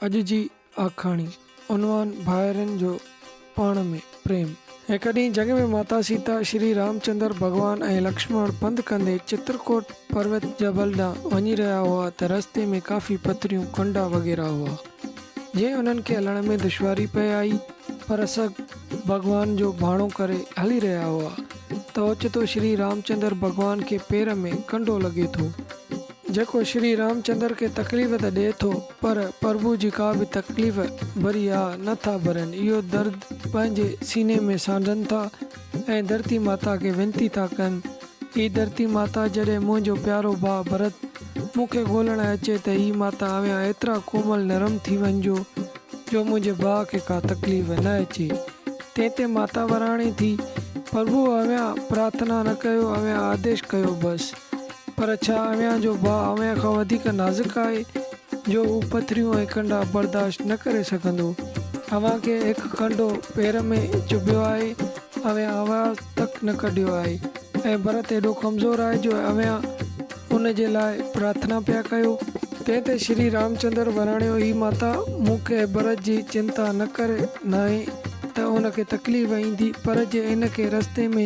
اڄ جي آکاڻي، عنوان، ڀائرن جو پاڻ ۾ پريم. هڪ ڏينهن جنگ ۾ ماتا سيتا، شري رامچندر ڀڳوان ۽ لڪشمڻ پنڌ ڪندي چترڪوٽ پروت جبل ڏانهن وڃي رهيا هئا ته رستي ۾ ڪافي پٿريون، ڪنڊا وغيره هئا، جنهن انهن کي هلڻ ۾ دشواري پئي آئي، پر سگهه ڀڳوان جو ڀاڻو ڪري هلي رهيا هئا ته اوچتو شري رامچندر ڀڳوان کي پير ۾ ڪنڊو لڳي ٿو. جيڪو شري رامچندر کي تڪليف ته ڏئي ٿو پر پرڀو جي ڪا به تڪليف ڀري آھ نه ٿا ڀرين اهو درد پنهنجي سيني ۾ سانڍن ٿا ۽ ڌرتي ماتا کي وينتي ٿا ڪن اي ڌرتي ماتا جڏهن منهنجو پيارو ڀاء ڀرت مون کي ڳولڻ اچي ته اي ماتا اوهان ايترا ڪومل نرم ٿي وڃجو جو منهنجي ڀاء کي ڪا تڪليف نه اچي تنهن تي ماتا وراڻي ٿي پرڀو اوهان پرارٿنا نه ڪيو اوهان آديش ڪيو بس. پر ڇا اويان جو ڀاء اويان کان وڌيڪ نازڪ آهي، جو هو پٿريون ۽ ڪنڊا برداشت نه ڪري سگهندو؟ اويان کي هڪ ڪنڊو پير ۾ چڀيو آهي، اويان آواز تڪ نه ڪڍيو آهي ۽ ڀرت ايڏو ڪمزور آهي جو اويان ان جي لاء پرارٿنا پيا ڪيو. تنهن تي شري رامچندر وراڻيو اي ماتا! مون کي ڀرت جي چنتا نه ڪر ناهي ته ان کي تڪليف ايندي، پر جي ان کي رستي ۾.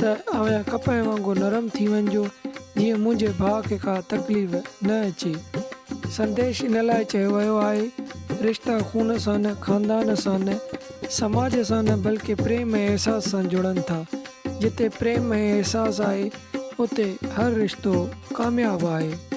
ته اوهان ڪپهه وانگر نرم ٿي وڃجو، جيئن منهنجي ڀاء کي ڪا تڪليف نه اچي. سنديش ان لاء چيو ويو آهي، رشتا خون سان نه، خاندان سان نه، سماج سان نه بلڪه پريم ۽ احساس سان جڙن ٿا. جتي پريم ۽ احساس آهي، اتي هر رشتو ڪامياب آهي.